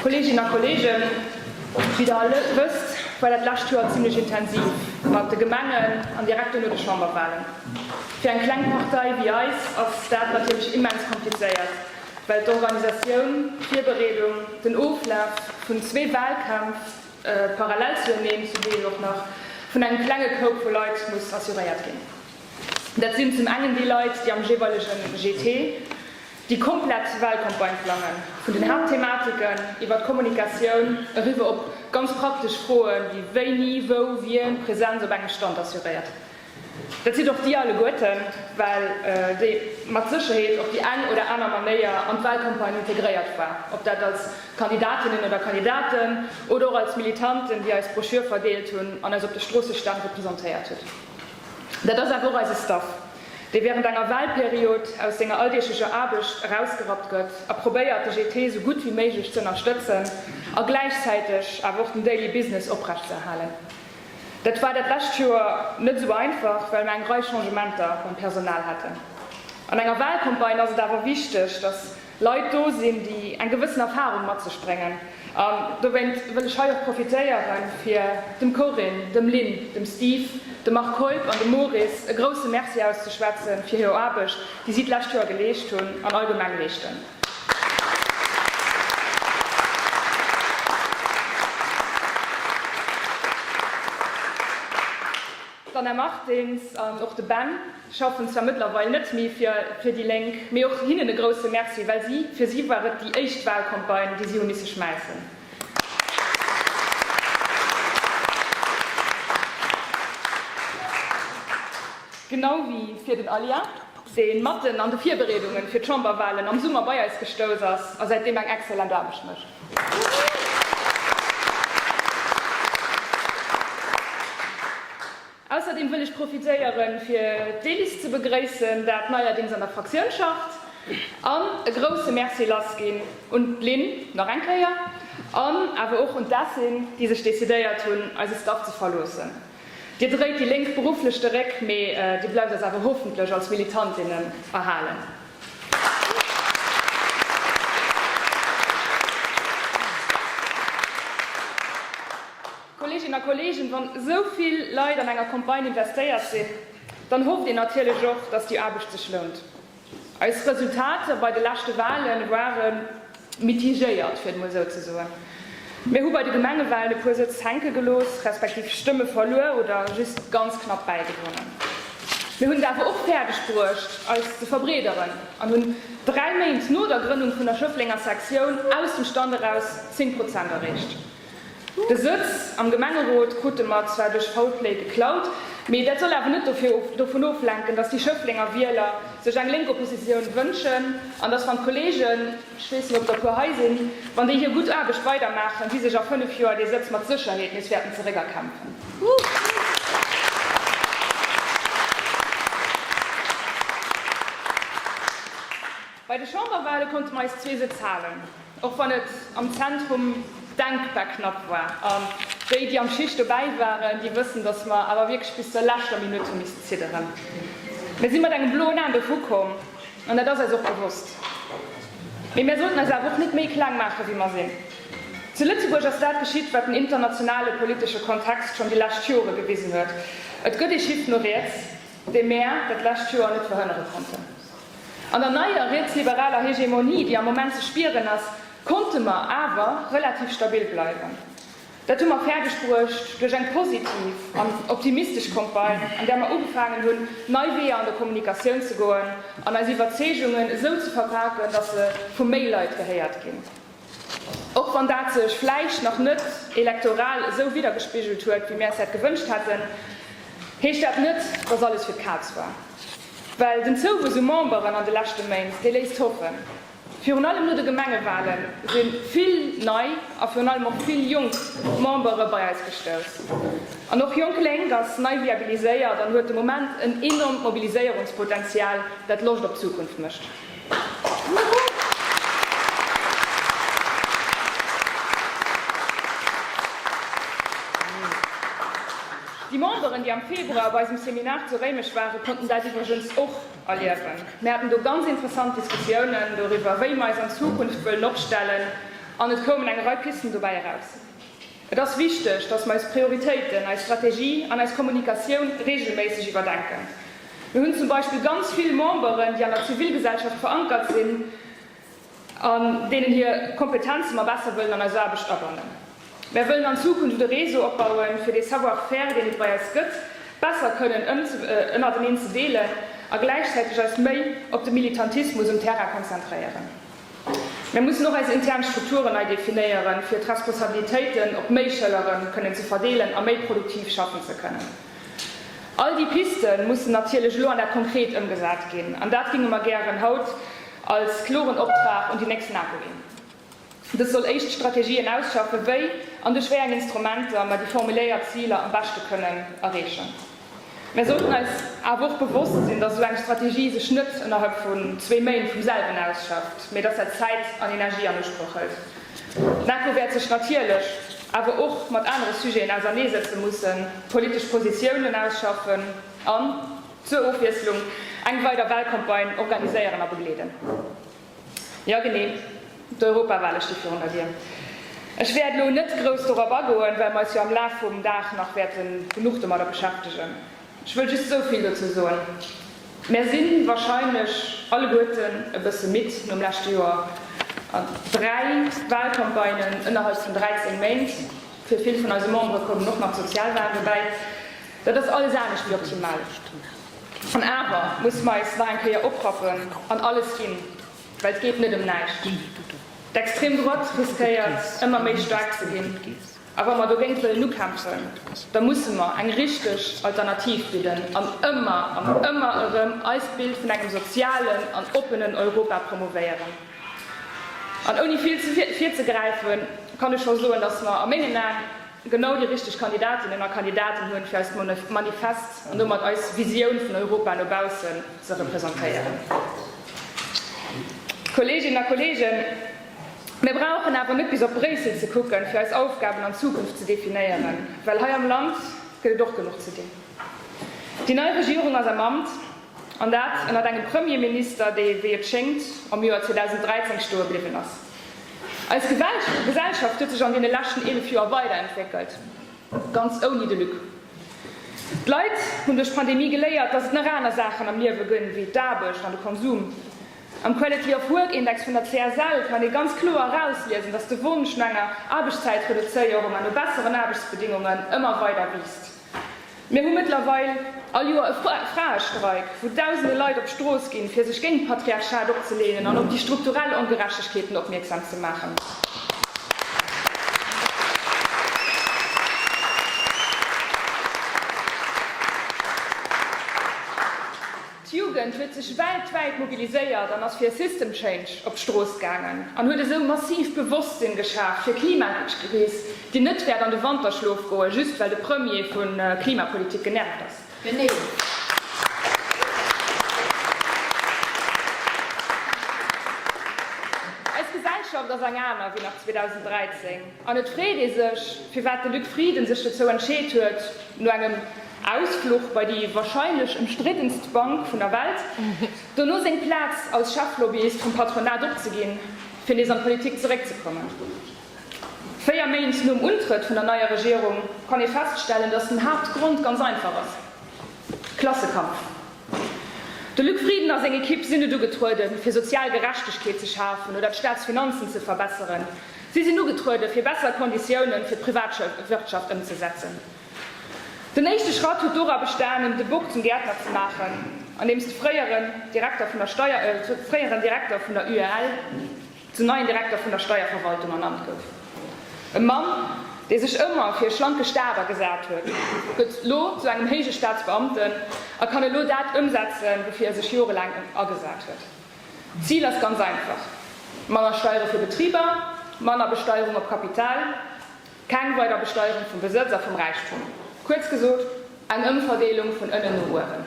Kolleeginnen a Kolleegen, wéi Der all wësst, war dat lescht Joer zimlech intensiv mat de Gemengen an direkt duerno de Chamberwalen. Fir eng kleng Partei wéi eis ass dat natierlech immens komplizéiert, well d'Organisatioun, d'Virbereedung, den Oflaf vun zwee Walkämpf parallel zueneen, zum Deel och nach vun engem klenge Koup vu Leit, muss assuréiert ginn. Dat sinn zum engen déi Leit, déi am jeeweilege GT. Déi komplett Wahlcampagne plangen, vun den Haaptthematiken iwwert d'Kommunikatioun eriwwer op ganz praktesch Froen ewéi wéini, wou, wien d'Präsenz op engem Stand assuréiert. Dat sidd och Dir alleguerten, well Dir mat Sécherheet op déi eng oder aner Manéier an d'Wahlcampagne integréiert war, ob dat als Kandidatinnen oder Kandidaten oder och als Militanten, déi eis Broschür verdeelt hunn an eis op de Stroossestand representéiert hutt. Dat ass awer och eise Staff. dee während enger Wahlperiod aus senger alldeeglecher Aarbecht erausgerappt gëtt a probéiert, de GT esou gutt wéi méiglech ze ënnerstëtzen a gläichzäiteg awer och den Daily Business oprechtzëerhalen. Dat war dat lescht Joer net esou einfach, well mer eng Rei Changementer beim Personal haten. An enger Wahlcampagne ass et awer wichteg, dass. Leit do sinn, déi eng gewëssen Erfahrung mat sech bréngen. An dowéinst wëll ech hei och profitéieren, fir dem Corinne, dem Lynn, dem Steve, dem Marc Keup an dem Moris e grousse Merci auszeschwätzen, fir hir Aarbecht, déi si d'lescht Joer geleescht hunn an allgemeng leeschten. D'Anna Martins an och de Ben. schaffen zwar mëttlerweil net méi fir fir déi Lénk, mee och hinnen e grousse Merci, well si, fir si war et déi éischt Wahlcampagne, déi si hu misse schmäissen. Genau wéi fir den Alia, dee matten an de Virbereedungen fir d'Chamberwahlen am Summer bei eis gestouss ass a säitdeem eng excellent Aarbecht mécht. Ausserdeem wëll ech profitéieren, fir d'Elis ze begréissen, dat neierdings an der Fraktioun schafft, an e grouse Merci lassginn un d'Lynn nach eng Kéier an awer och un d'Essyn, déi sech decidéiert hunn, eise Staff ze verloossen. Dir dréit déi Lénk berufflech de Réck, mee Dir bleift eis awer hoffentlech als Militantinne erhalen. Kolleeginnen a Kolleegen, wann esou vill Leit an enger Campagne investéiert sinn, dann hofft een natierlech och, dass déi Aarbecht sech lount. Eis Resultater bei de leschte Wahlen ware mitigéiert, fir et emol esou ze soen. Mir hu bei de Gemengewahlen e puer Sëtz hänke gelooss, respektiv Stëmme verluer oder just ganz knapp bäigewonnen. Mir hunn et awer och fäerdeg bruecht, eis ze verbreederen an hunn dräi Méint no der Grënnung vun der Schëfflenger Sektioun aus dem Stand eraus 10 Prozent erreecht. De Sëtz am Gemengerot krute mer zwar duerch faul Play geklaut, mee dat soll awer net dovun oflenken, datt déi Schëfflenger Wieler sech eng lénk Oppositioun wënschen an datt, wann d'Kollegen, ech weess net, ob der e puer hei sinn, wann déi hir gutt Aarbecht weidermaachen, si sech a fënnef Joer dee Sëtz mat Sécherheet nees wäerten zeréckerkämpfen. Bei de Chamberwale konnte mer eis zwee Sëtz halen, och wann et am Zentrum denkbar knapp war. An déi, déi am Schicht dobäi waren, déi wëssen, datt mer awer wierklech bis zur leschter Minutt hu missen zidderen. Mir si mat engem bloen Aen dovu komm, an dat ass eis och bewosst. Mee mir sollten eis awer och net méi kleng maachen, wéi mer sinn. Zu Lëtzebuerg ass dat geschitt, wat den internationale politesche Kontext schonn déi lescht Jore gewisen huet, Et gëtt ee Schiff no riets, dee mir dat lescht Joer net verhënnere konnten. An der neier rietsliberaler Hegemonie, déi am Moment ze spieren ass, konnte mer awer relativ stabil bleiwen. Dat hu mer fäerdeg bruecht duerch eng positiv an optimistesch Campagne, an där mer ugefaangen hunn, nei Weeër an der Kommunikatioun ze goen an eis Iwwerzeegungen esou ze verpaken, datt se vu méi Leit gehéiert ginn. Och wann dat sech vläicht nach net elektoral esou widdergespigelt huet, wéi mir äis dat gewënscht hätten, heescht dat net, datt alles fir d'Kaz war. Well den Zouwuess u Memberen an de leschte Méint, dee léisst hoffen. Virun allem no de Gemengewale si vill nei a virun allem och vill jonk Membere bei eis gestouss. An och Jonk Lénk ass nei viabiliséiert an huet de Moment en enormt Mobiliséierungspotenzial, dat Loscht op d'Zukunft mécht. Déi Memberen, déi am Februar bei eisem Seminar zu Réimech waren, konnten dat iwwregens och erliewen. Mir haten do ganz interessant Diskussiounen doriwwer, wéi mir eis an Zukunft wëllen opstellen, an et koumen eng Rei Pisten dobäi eraus. Et ass wichteg, dass mer eis Prioritéiten, eis Strategie an eis Kommunikatioun reegelméisseg iwwerdenken. Mir hunn zum Beispill ganz vill Memberen, déi an der Zivilgesellschaft verankert sinn an deenen hir Kompetenze mer besser wëllen an eis Aarbecht abannen. Mer wëllen an Zukunft e Réseau opbauen, fir dee Savoir-faire, deen et bei eis gëtt, besser kënnen ënnerteneen ze deelen a gläichzäiteg eis méi op de Militantismus um Terrain konzentréieren. Mir mussen och eis intern Strukturen nei definéieren, fir d'Responsabilitéiten op méi Schëllere kënnen ze verdeelen a méi produktiv schaffen ze kënnen. All déi Piste mussen natierlech elo an dat Konkret ëmgesat ginn, an dat géinge mer gären haut als kloren Optrag un déi nächst NAPO ginn. Dës soll éischt Strategien ausschaffen, wéi an duerch wéi eng Instrumenter mer déi formuléiert Ziler am beschte kënnen erreechen. Mir sollten eis awer och bewosst sinn, dass esou eng Strategie sech net ënnerhalb vun zwee Méint vum selwen ausschafft, mee dass dat Zäit an Energie an Usproch hëlt. D'NAFO wäert sech natierlech awer och mat anere Sujeten auserneesetze mussen, politesch Positiounen ausschaffen an, zur Ofwiesslung, eng weider Wahlcampagne organiséieren a begleeden. Jo, genee. D'Europawale sti virun der Dier. Ech wäert elo net grouss dorop agoen, well mer eis jo am Laf vum Dag nach wäerte genuch domadder beschäftegen. Ech wëll just esou vill dozou soen, Mär si warscheinlech alleguerten e bësse midd nom leschte Joer. Dräi Walcampagnen ënnerhalb vun 13 Méint, fir vill vun eise Membere koumen och nach d'Sozialwalen dobäi, dat ass alles anescht wéi optimal. An awer musse mer eis nach eng Kéier oprappen an alles ginn, well et geet net ëm näischt. D'Extreme Droite riskéiert, ëmmer méi staark ze ginn. A wa mer dogéint wëllen ukämpfen, da musse mer eng richteg Alternativ bidden an ëmmer an ëmmer erëm eist Bild vun engem sozialen an oppenen Europa promouvéieren. An ouni vill ze virzegräifen, kann ech scho soen, dass mer a mengen Aen, genau déi richteg Kandidatinnen a Kandidaten hunn, fir eist Manifest an domat eis Visioun vun Europa no baussen ze representéieren. Kolleeginnen a Kolleegen, mir brauchen awer net bis op Bréissel ze kucken, fir eis Aufgaben an Zukunft ze definéieren, well hei am Land gëtt et och genuch ze dinn. Déi nei Regierung ass am Amt, an dat ënnert engem Premier Minister, dee, wéi et schéngt, am Joer 2013 stoe bliwwen ass. Eis Gesellschaft huet sech an deene leschten 11 Joer weiderentwéckelt, ganz ouni de Luc. D'Leit hunn duerch d'Pandemie geléiert, datt et nach aner Saachen am Liewe gënn, wéi d'Aarbecht an de Konsum. Am Quality of Work Index vun der CSL kann ee ganz kloer erausliesen, datt de Wonsch no enger Aarbechtszäitreduzéierung an no besseren Aarbechtsbedéngungen ëmmer weider wiisst. Mir hu mëttlerweil all Joer e Fraestreik, wou dausende Leit op d'Strooss ginn, fir sech géint d'Patriarchat opzeleenen an op déi strukturell Ongerechtegkeeten opmierksam ze maachen. D'Jugend huet sech weltwäit mobiliséiert an ass fir e System Change op d'Strooss gaangen an huet esou massiv Bewosstsinn geschaf fir Klimakris, déi net wäert an de Wanterschlof goen, just well de Premier vu Klimapolitik genervt ass. Eis Gesellschaft ass eng aner wéi nach 2013 an et freet ee sech, firwat de Luc Frieden sech dozou entscheet huet, no engem Ausfluch bei déi warscheinlech ëmstriddenst Bank vun der Welt, dono seng Plaz als Cheflobbyist vum Patronat opzeginn, fir nees an d'Politik zeréckzekommen. Véier Méint nom Untrëtt vun der neier Regierung kann ee feststellen, datt den Haaptgrond ganz einfach ass, Klassekampf. De Luc Frieden a seng Ekipp sinn net ugetrueden, fir sozial Gerechtegkeet ze schafen oder d'Staatsfinanzen ze verbesseren. Si sinn ugetrueden, fir besser Konditiounen fir d'Privatwirtschaft ëmzesetzen. Den éischte Schratt huet dora bestanen, de Bock zum Gäertner ze maachen, andeems de fréieren Direkter vun der Steier, fréieren Direkter vun der UEL, zum neien Direkter vun der Steierverwaltung ernannt gouf. E Mann, dee sech ëmmer fir e schlanke Staat agesat huet, gëtt elo zu engem héije Staatsbeamten a kann elo dat ëmsetzen, woufir e sech jorelaang agesat huet. D'Zil ass ganz einfach, manner Steiere fir Betriber, manner Besteierung op Kapital. Keng weider Besteierung vum Besëtz a vum Räichtum. Kuerz gesot, eng Ëmverdeelung vun ënnen no uewen.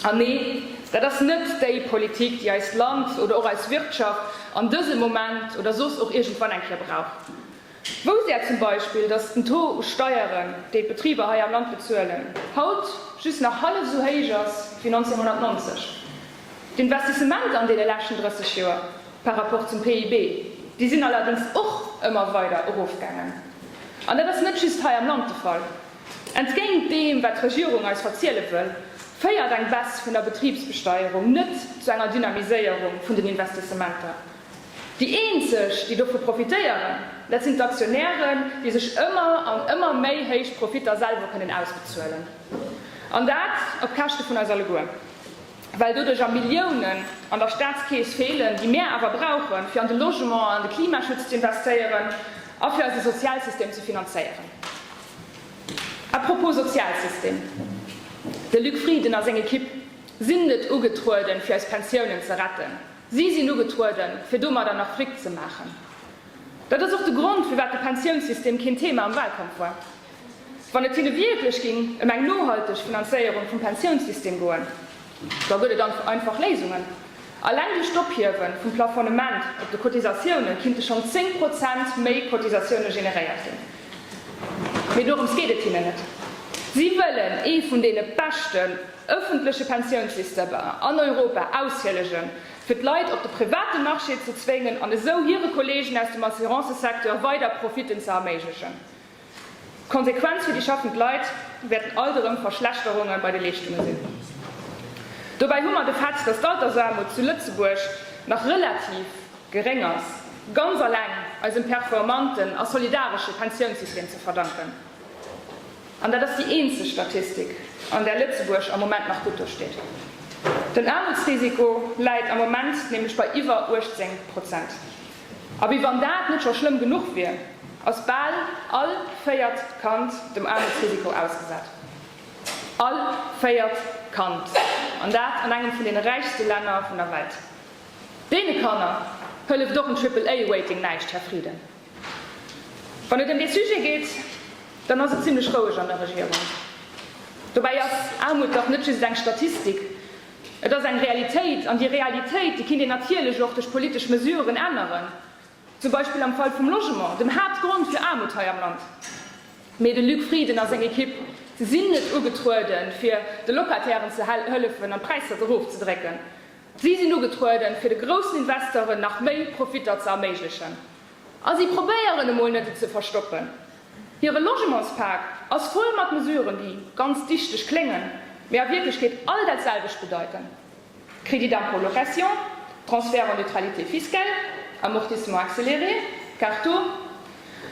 An nee, dat ass net déi Politik, déi eist Land oder och eis Wirtschaft an dësem Moment oder soss och iergendwann eng Kéier brauch. Wousst Är zum Beispill, datt den Taux u Steieren, déi d'Betriber hei am Land bezuelen, haut just nach hallef esou héich ass wéi 1990? D'Investissementer an deene leschten 30 Joer par rapport zum PIB, déi sinn allerdéngs och ëmmer weider erofgaangen. An dat ass net just hei am Land de Fall. Entgéint deem, wat d'Regierung eis verziele wëll, féiert eng Baisse vun der Betribsbesteierung net zu enger Dynamiséierung vun den Investissementer. Déi eenzeg, déi dovu profitéieren, dat sinn d'Aktionären, déi sech ëmmer an ëmmer méi héich Profitter selwer kënnen ausbezuelen. An dat op Käschte vun eis alleguer. well doduerjer Milliounen an der Staatskeess feelen, déi mär awer brauchen, fir an de Logement an an de Klimaschutz ze investéieren a fir eise Sozialsystem ze finanzéieren. A propos Sozialsystem, de Luc Frieden a seng Ekipp sinn net ugetrueden, fir eis Pensiounen ze retten, si sinn ugetrueden, fir domadder nach Fric ze maachen. Dat ass och de Grond, firwat de Pensiounssystem keen Thema am Wahlkampf war. Wann et hinne wierklech géing ëm eng nohalteg Finanzéierung vum Pensiounssystem goen, da gëtt et einfach Léisungen. Alleng duerch d'Ophiewe vum Plafonnement op de Cotisatioune kinnte schonn 10 Prozent méi Cotisatioune generéiert ginn. Mee dorëms geet et hinnen net. Si wëllen ee vun deene beschten ëffentleche Pensiounssystemer an Europa aushillegen, fir d'Leit op de private Marché ze zwéngen an esou hire Kolleegen aus dem Assurancesecteur weider Profitten ze erméiglechen. D'Konsequenz fir déi schaffend Leit wäerten alt erëm Verschlechterunge bei de Leeschtunge sinn. Dobäi hu mer de Fait, datt d'Altersaarmut zu Lëtzebuerg nach relativ geréng ass, ganz alleng eisem performanten a solidaresche Pensiounssystem ze verdanken. An dat ass déi eenzeg Statistik, an där Lëtzebuerg am Moment nach gutt do steet. Den Aarmutsrisiko läit am Moment nämlech bei iwwer 18 Prozent. A wéi wann dat net scho schlëmm genuch wier, ass bal all véiert Kand dem Aarmutsrisiko ausgesat. All véiert Kand! An dat an engem vun deene räichste Länner vun der Welt. Deene Kanner hëlleft och en Triple-A-Rating näischt, Här Frieden. Wann et ëm dee Sujet geet, dann ass et zimlech roueg an der Regierung. Dobäi ass Aarmut dach net just eng Statistik. Et ass eng Realitéit, an déi Realitéit, déi kinnt een natierlech och duerch politesch Mesuren änneren, zum Beispill am Fall vum Logement, dem Haaptgrond fir Aarmut hei am Land. Mee de Luc Frieden a seng Ekipp sinn net ugetrueden, fir de Locatairen ze hëllefen an d'Präisser erofzedrécken. Si sinn ugetrueden, fir de groussen Investoren nach méi Profitter ze erméiglechen. A si probéieren emol net, et ze verstoppen. Hire Logementspak ass voll mat Mesuren, déi ganz dichteg kléngen, mee a Wierklechkeet all dat selwecht bedeiten, Crédit d'impôt location, Transfert en neutralité fiscale, Amortissement accéléré, Carto.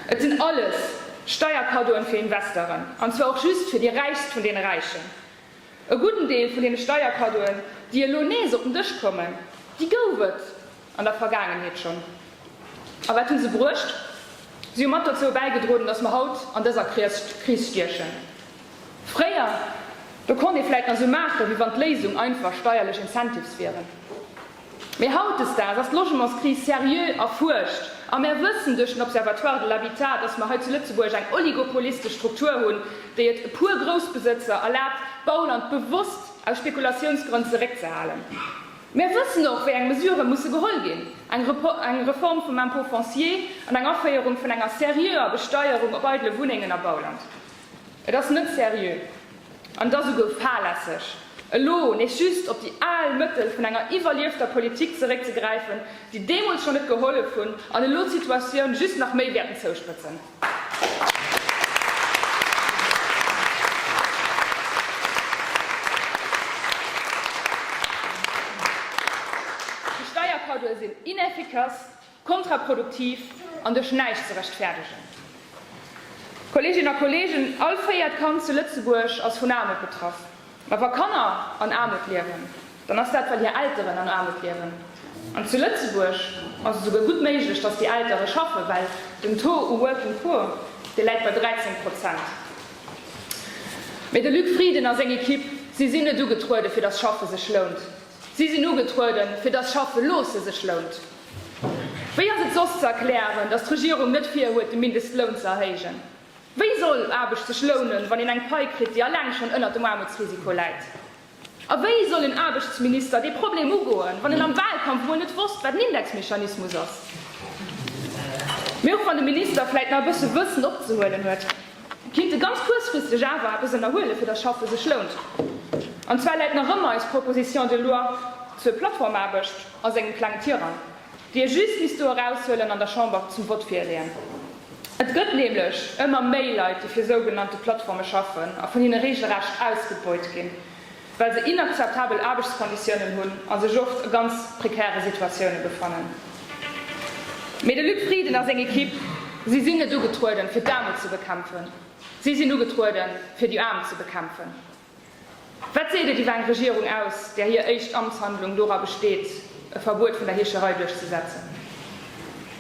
Et sinn alles Steierkaddoen fir Investeren, an zwar och just fir déi Räichst vun deene Räichen. E gudden Deel vun deene Steierkaddoen, déi elo nees op den Dësch kommen, déi gouf et. An der Vergaangenheet schonn. A wat hu se bruecht? Si hu mat dozou bäigedroden, datt mer haut an dëser Kris stiechen. Fréier, do konnt ee vläit nach esou maachen, wéi wann d'Léisung einfach steierlech Incentives wieren. Mee hautdesdaags ass d'Logementskris seriö erfuerscht a mer wëssen duerch den Observatoire de l'habitat, datt mer hei zu Lëtzebuerg eng oligopolistesch Struktur hunn, déi et e puer Groussbesëtzer erlaabt, d'Bauland bewosst aus Spekulatiounsgrënn zeréckzehalen. Mir wëssen och, wéi eng Mesurë musse geholl ginn, eng Reform vum Impôt foncier an eng Aféierung vun enger seriöer Besteierung op eidele Wunnengen a Bauland. Et ass net seriö, an et ass esouguer fahrlässeg, elo nees just op déi al Mëttel vun enger iwwerliefter Politik zeréckzegräifen, déi deemools scho net gehollef hunn an elo d'Situatioun just nach méi wäerten zouspëtzen. Déi Steierkaddoe sinn ineffikass, kontraproduktiv an duerch näischt ze rechtfäerdegen. Kolleeginnen a Kolleegen, all véiert Kand zu Lëtzebuerg ass vun Aarmut betraff. Ma wa Kanner an Aarmut liewen, dann ass dat well hir Elteren an Aarmut liewen. An zu Lëtzebuerg ass et esouguer gutt méiglech, datt déi Eltere schaffen, well den Taux u Working Poor, dee läit bei 13 Prozent. Mee de Luc Frieden a seng Ekipp, si sinn net ugetruede fir datt Schaffe sech lount, si sinn ugetruede fir datt Schaffe loosse sech lount. Wéi ass et soss ze erklären, datt d'Regierung net virhuet de Mindestloun ze erhéijen? Wéi soll Aarbecht sech lounen, wann een eng Pai kritt, déi alleng schonn ënnert dem Aarmutsrisiko läit? A wéi soll en Aarbechtsminister dee Problem ugoen, wann en am Wahlkampf mol net wosst, wat en Indexmechanismus ass? Mee och wann de Minister vläit nach e bësse Wëssen opzehuelen huet, kinnt e ganz kuerzfristeg awer eppes ënnerhuelen, fir datt Schaffe sech lount. An zwar läit nach ëmmer eis Proposition de loi zur Plattformaarbecht a sengem klengen Tirang. déi ee just misst do eraushuelen an der Chamber zum Vott virleeën. Et gëtt nämlech ëmmer méi Leit, déi fir sougenannte Plattforme schaffen a vun hinne reegelrecht ausgebeut ginn, well se inakzeptabel Aarbechtskonditiounen hunn a sech oft a ganz prekäre Situatioune befannen. Mee de Luc Frieden a seng Ekipp, si sinn net ugetrueden, fir d'Aarmut ze bekämpfen, si sinn ugetrueden, fir déi Aarm ze bekämpfen. Wat seet et iwwer eng Regierung aus, där hir éischt Amtshandlung dora besteet, e Verbuet vun der Heescherei duerchzesetzen?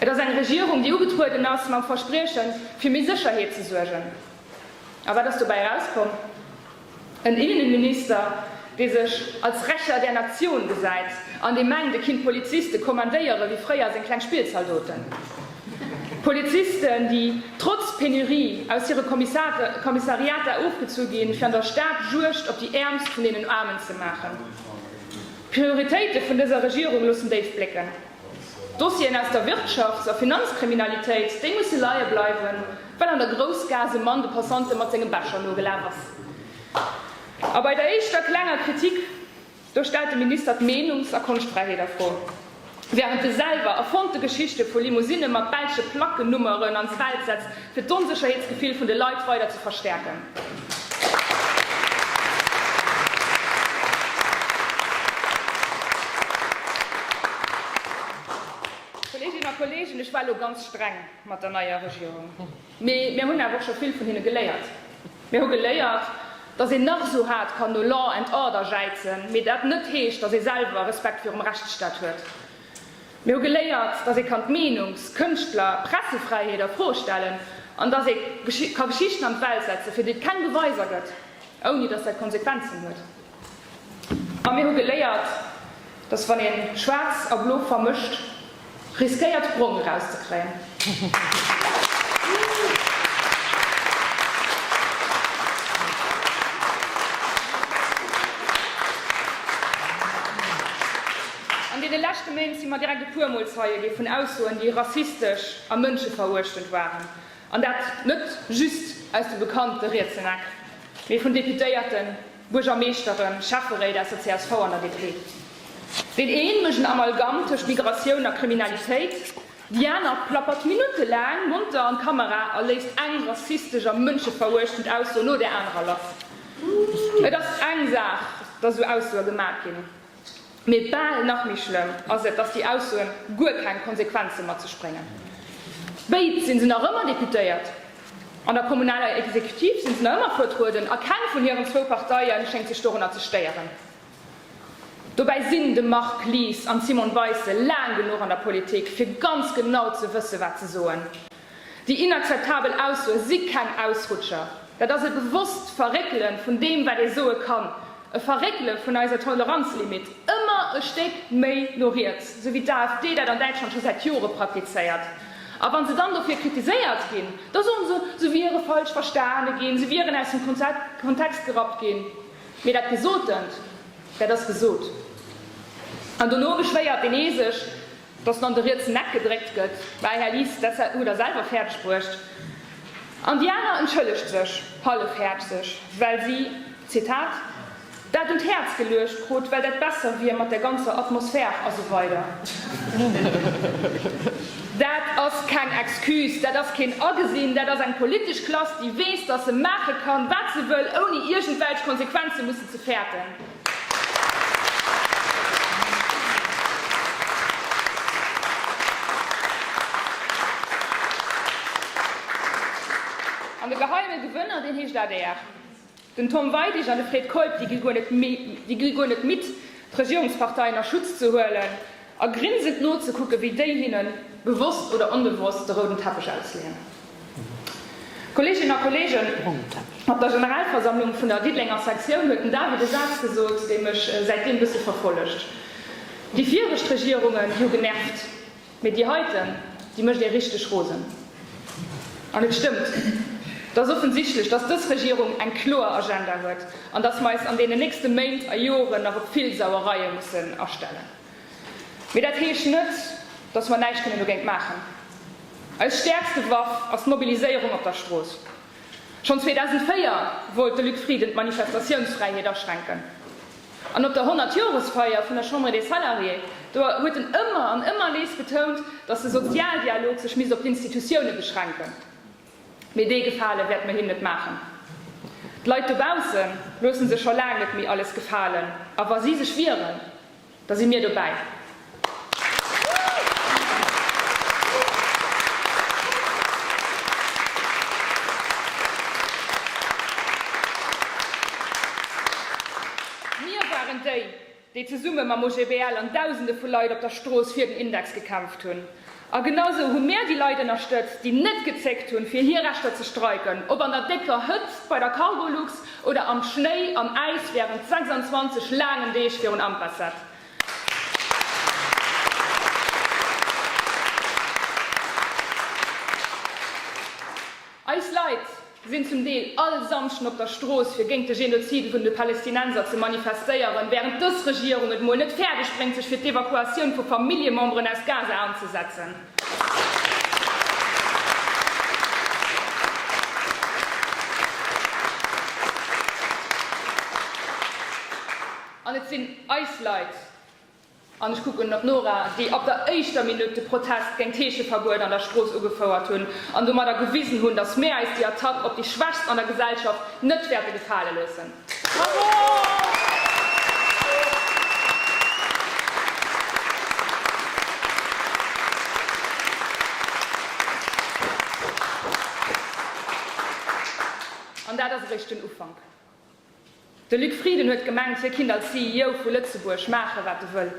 Et ass eng Regierung, déi ugetrueden ass mam Verspriechen, fir méi Sécherheet ze suergen. A wat ass dobäi erauskomm? En Innenminister, dee sech als Rächer der Natioun gesäit an dee mengt, e kinnt Poliziste kommandéiere wéi fréier seng kleng Spillzaldoten. Polizisten, déi trotz Penurie aus hire Kommissariater ofgezu ginn, fir an der Stad Juegd op déi Äermst vun deenen Aarmen ze maachen. D'Prioritéite vun dëser Regierung loossen déif blécken. D'Dossieren aus der Wirtschafts a Finanzkriminalitéit, déi musse leie bleiwen, well an der Groussgaass e Mann de Passante mat sengem Becher nogelaf ass. A bei der éischter klenger Kritik. Do stellt de Minister d'Meenungs a Konschtfräiheet a Fro, wärend e selwer erfonnte Geschichte vu Limousinne mat belsche Plackennummeren an d'Welt setzt, fir d'Onsécherheetsgefill vun de Leit weider ze verstäerken. Kolleeginnen a Kolleegen, ech war elo ganz streng mat der neier Regierung. Mee mir hunn awer och scho vill vun hinne geléiert. Mir hu geléiert, datt een nach esou haart kann no Law and Order jäizen, mee dat net heescht, datt ee selwer Respekt virum Rechtsstaat huet. Mir hu geléiert, datt ee kann d'Meenungs-, Kënschtler-, Pressefräiheet a Fro stellen an datt ee ka Geschichten an d'Welt setzen, fir déi et keng Beweiser gëtt, ouni datt dat Konsequenzen huet. A mir hu geléiert, dass wann ee Schwaarz a Blo vermëscht, riskéiert Brong erauszekréien. An deene leschte Méint si mer direkt e puer Mol Zeie gi vun Aussoen, déi rassistesch a mënscheveruechtend waren. An dat net just aus de bekannte rietsen Eck, mee vun Deputéierten, Buergermeeschteren, Schäfferéit aus der csv an der DP. Deen een mécht en Amalgamm tëscht Migratioun a Kriminalitéit, déi aner plappert minuttelaang monter an d'Kamera a léisst eng rassistesch a mënscheveruechtend Ausso no der anerer lass. Et ass eng Saach, datt esou Aussoe gemat ginn. Mee bal nach méi schlëmm ass et, datt déi Aussoen guer keng Konsequenze mat sech bréngen. Béid si se nach ëmmer Deputéiert, an der kommunaler Exekutiv si se nach ëmmer vertrueden, a keng vun hiren zwou Parteie schéngt sech dorunner ze stéieren. Dobäi sinn de Marc Lies an d'Simone Weisse laang genuch an der Politik, fir ganz genau ze wësse wat ze soen. Déi inakzeptabel Aussoe si keng Ausrutscher. Dat ass e bewosst Verréckele vun deem, wat ee soe kann, e Verréckele vun eiser Toleranzlimitt ëmmer e Stéck méi no riets, esou wéi d'AfD dat an Däitschland scho säit Jore praktizéiert. A wa se dann dofir kritiséiert ginn, da soen se, se wiere falsch verstane ginn, se wieren aus dem Kontext gerappt ginn. Mee dat Gesotent, dat ass gesot. An dono beschwéiert deen ee sech, Dass en an de rietsen Eck gedréckt gëtt, mäi Här Lies, dat hutt Der selwer fäerdeg bruecht. An déi aner entschëllegt sech hallefhäerzeg, well si, Zitat, dat un d'Häerz geluecht krut, well dat besser wier mat der ganzer Atmosphär a sou weider. Dat ass keng Excuse, dat ass keen Agesinn, dat ass eng politesch Klass, déi weess, dass se maache kann, wat se wëll, ouni iergendwelch Konsequenze mussen ze fäerten. An de geheime Gewënner, deen heescht adr. Den Tom Weidig an de Fred Keup, déi gi guer net midd, d'Regierungsparteien a Schutz ze huelen, A grinsend nozekucken, wéi déi hinnen, bewosst oder onbewosst, de rouden Teppech ausleeën. Kolleeginnen a Kolleegen, op der Generalversammlung vun der Diddelenger Sektioun huet den David e Saz gesot, dee mech säitdeem e bësse verfollegt, Déi viregt Regierungen, déi hu genervt, mee déi heiten, déi mécht ee richteg rosen. An et stëmmt. Et ass offensichtlech, dass dës Regierung eng kloer Agenda huet an dass mer eis an deenen nächste Méint a Joren nach op vill Sauereie mussen astellen. Mee dat heescht net, datt mer näischt kënnen dogéint maachen. Eis stäerkste Waff ass d'Mobiliséierung op der Strooss. Schonn 2004 wollt de Luc Frieden d'Manifestatiounsfräiheet aschränken. An op der Honnertjoresfeier vun der Chambre des Salariés, do huet en ëmmer an ëmmer nees betount, datt de Sozialdialog sech misst op d'Institutioune beschränken. Mee dee Gefale wäerte mer him net maachen. D'Leit dobausse loosse sech scho laang net méi alles gefalen. A wa si sech wieren, da si mir dobäi. Mir waren déi, déi zesumme mam OGBL an Dausende vu Leit op der Strooss fir den Index gekämpft hunn, a genau esou hu mir déi Leit ënnerstëtzt, déi net gezéckt hunn, fir hir Rechter ze streiken, ob an der décker Hëtzt bei der Cargolux oder am Schnéi an Äis wärend 26 laangen Deeg virun Ampersett. Eis Leit, sinn zum Deel all Samschden op der Strooss fir géint de Genozid vun de Palestinenser ze manifestéieren, wärend dës Regierung et mol net fäerdeg bréngt sech fir d'Evakuatioun vu Familljememberen aus Gaza anzesetzen. An et sinn eis Leit. An ech kucken op d'Nora, déi ab der éischter Minutt de Protest géint d'Heescheverbuet an der Strooss ugefouert hunn an domadder gewisen hunn, datt mir äis déi Attack op déi Schwächst an der Gesellschaft net wäerte gefale loossen. An dat ass eréischt den Ufank. De Luc Frieden huet gemengt, hie kinnt als CEO vu Lëtzebuerg maache wat e wëll.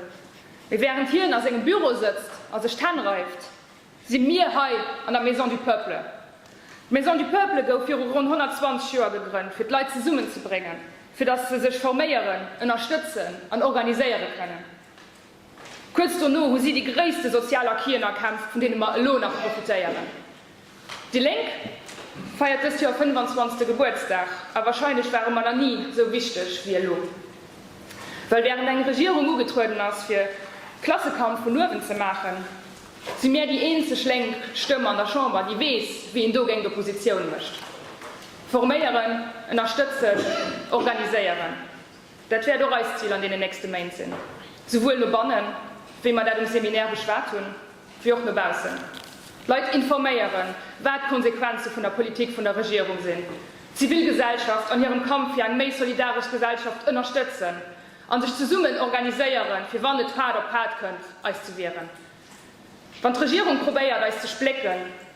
Mee wärend hien a sengem Büro sëtzt a sech d'Hänn reift, si mir hei an der Maison du Peuple. D'Maison du Peuple gouf viru ronn 120 Joer gegrënnt, fir d'Leit zesummen ze bréngen, fir datt se sech forméieren, ënnerstëtzen an organiséiere kënnen. Kuerz dono hu si déi gréisste sozial Acquisen erkämpft, vun deene mer elo nach profitéieren. Déi Lénk feiert dëst Joer 25. Gebuertsdag, a wahrscheinlech ware mer nach ni esou wichteg wéi elo. Well wärend eng Regierung ugetrueden ass fir Klassekampf vun uewen ze maachen, si mär déi eenzeg lénk Stëmm an der Chamber déi weess wéi een dogéint Oppositioun mécht, forméieren, ënnerstëtzen, organiséieren. Dat wäert och eist Zil an deenen nächste Méint sinn, souwuel no bannen, wéi mer dat um Seminaire beschwat hunn, wéi och no baussen. D'Leit informéieren, wat d'Konsequenze vun der Politik vun der Regierung sinn, d'Zivilgesellschaft an hirem Kampf fir eng méi solidaresch Gesellschaft ënnerstëtzen a sech zesummen organiséieren, fir wann et Fahrt op Fahrt kënnt, eis ze wieren, wann d'Regierung probéiert, eis ze splécken.